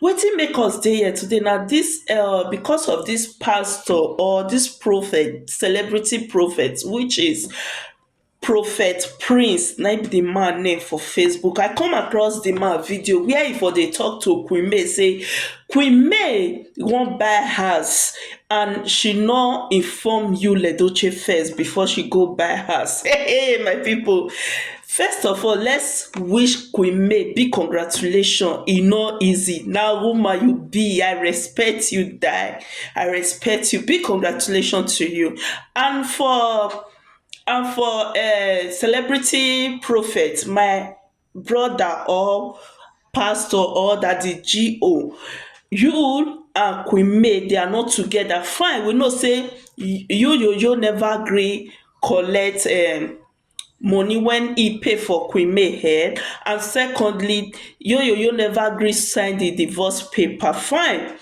Wetin make us dey here today na dis um because of dis pastor or dis prophet, celebrity prophet which is prophet prince na im be di man name for facebook. I come across di man video where e for dey talk to queen may say queen may wan buy house and she nor inform yul edochie first before she go buy house um my people First of all let's wish queen May big congratulations e no easy na woman you be I respect you die I respect you big congratulations to you and for and for um celebrity prophet my brother or pastor or daddy GO you and queen May they are not together fine we know say you yo yo never gree collect um money wen he pay for queen May hair and secondly Oyoyo never gree sign the divorce paper fine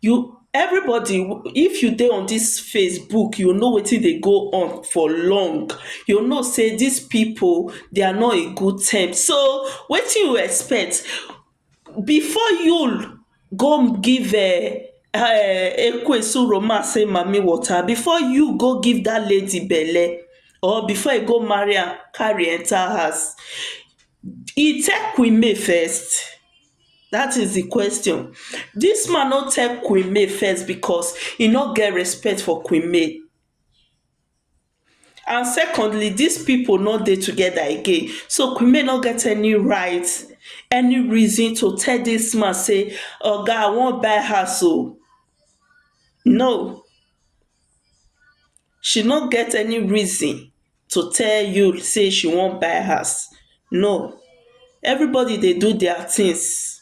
you everybody if you dey on this Facebook you know wetin dey go on for long you know say this people they are not in good term so wetin you expect Before Yul go give um um Ekwesu romance say mami water, before Yul go give dat lady belle or before e go marry am carry enter house, e tell queen May first? dat is di question. Dis man no tell queen May first because e no get respect for queen May. and secondly dis pipo no dey togeda again so kunle no get any right any reason to tell dis man say oga i wan buy house oo no she no get any reason to tell you say she wan buy house no everybody dey do dia tins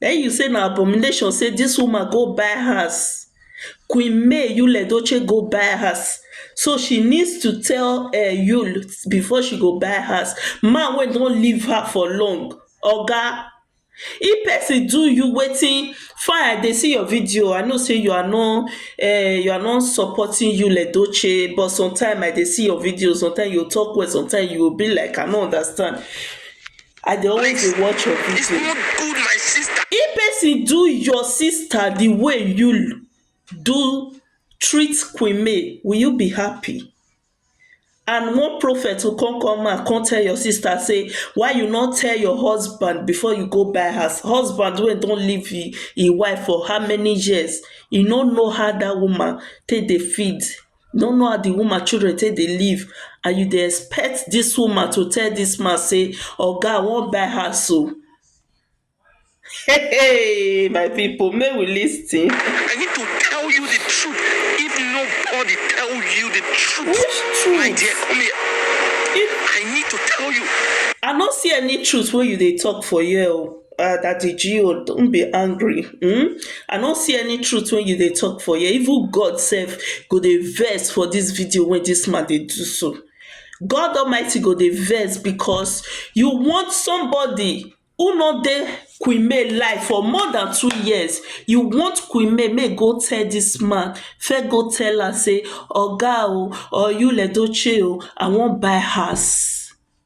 Then you say na abomination say this woman go buy house Queen May Yul Edochie go buy house so she needs to tell uh, Yul before she go buy house man wey don leave her for long oga if person do you wetin fine i dey see your video i know say you are not uh, you are not supporting Yul Edochie but sometimes i dey see your videos sometimes you talk well sometimes you be like i no understand I dey always dey watch your It's video. not good, my sister. If person do your sister the way you do treat Queen May, will you be happy? And one prophet will come come out come tell your sister say why you no tell your husband before you go buy house. Husband wey don leave him him wife for how many years, he no know how that woman take dey feed no know how the woman children take dey live and you dey expect this woman to tell this man say oga i wan buy house o heyy my people make we lis ten I need to tell you the truth if nobody tell you the truth which truth my dear come here if I need to tell you I no see any truth wey you dey talk for here o um daddy geo don't be angry um i no see any truth wey you dey talk for here even God sef go dey vex for this video wey this man dey do so God almighty go dey vex because you want somebody who no dey Queen May life for more than two years you want Queen May make go tell this man first go tell am say oga o or Yul Edochie o i wan buy house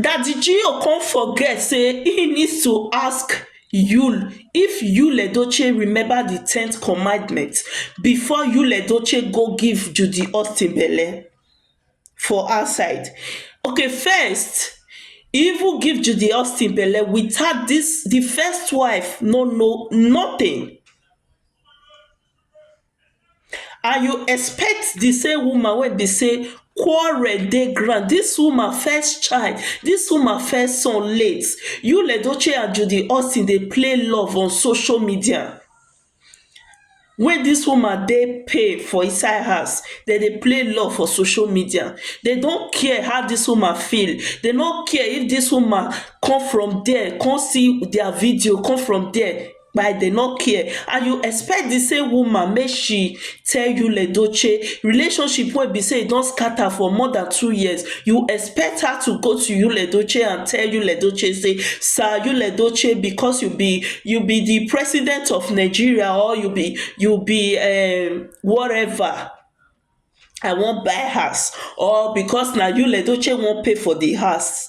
Daddy Gio come forget say he needs to ask Yul if Yul Edochie remember the tenth commandment before Yul Edochie go give Judy Austin belle for outside. Okay first he even give Judy Austin belle without this the first wife no know nothing. And you expect the same woman wey be sey quarrel dey ground. Dis woman first child, dis woman first son late. Yul Edochie and Judy Austin dey play love on social media. Wey dis woman dey pay for inside house. Dem dey play love for social media. They no care how dis woman feel. They no care if dis woman come from dere con see their video, come from dere. kpai dem no care and you expect di same woman make she tell you ledoche relationship wey be say e don scatter for more than two years you expect her to go to you ledoche and tell you ledoche say sir you ledoche because you be you be di president of Nigeria or you be you be um whatever I wan buy house or because na you ledoche wan pay for di house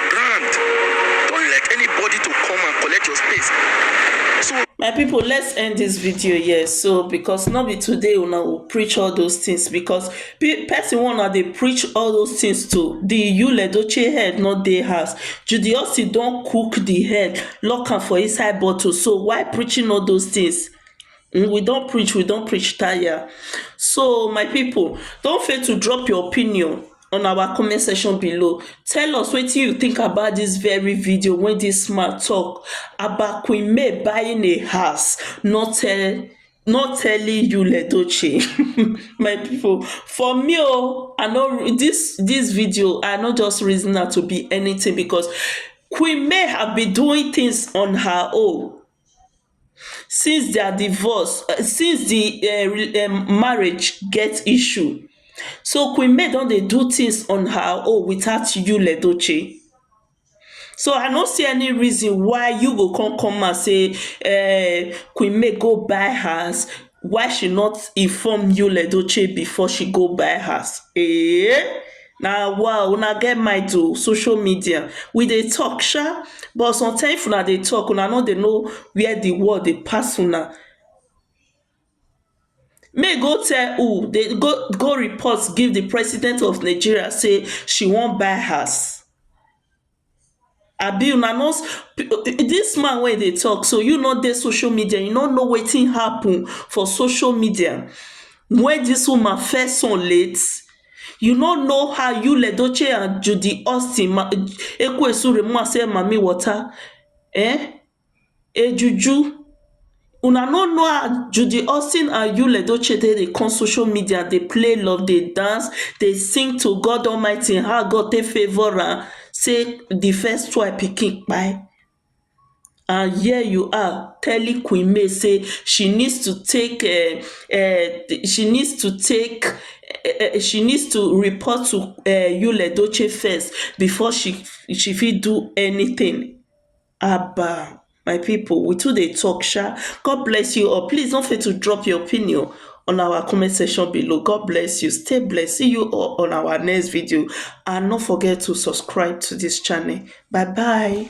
Brand, don't let anybody to come and collect your space. So my people let's end this video here so because not be today una go preach all those things because person one una they preach all those things to the yule edochie head not dey house judy austin don cook the head lock am for inside bottle so why preaching all those things Mm, we don't preach we don't preach tire so my people don't fail to drop your opinion on our comment section below tell us wetin you think about dis very video wey dis man talk about queen may buying a house not tell not telling Yul Edochie um my people for me oo I no re dis dis video I no just reason am to be anything because queen may have been doing things on her own since their divorce um since the um marriage get issue so queen may don dey do things on her own without yul edochie so i no see any reason why you go come come out say um queen may go buy house Why she not inform Yul Edochie before she go buy house eeh na wa una get mind o social media we dey talk sha but sometimes if una dey talk una no dey know where the world dey pass una make go tell who dey go go report give the president of Nigeria say she wan buy house Abi una no dis man wey e dey talk so you no dey social media you no know wetin happen for social media wey dis woman first son late you no know how Yul Edochie and Judy Austin Ekwe-Suremu and Mammy Water um a juju una no know how judy austin and yul edochie take dey come social media dey play love dey dance dey sing to god almighty how god take favour am say di first wife pikin kpai and here you are telling queen may say she needs to take um um she needs to take um she needs to report to um yul edochie first before she she fit do anytin Haba my people we too dey talk sha, God bless you all please no forget to drop your opinion on our comment section below God bless you stay blessed see you all on our next video and no forget to subscribe to this channel bye bye.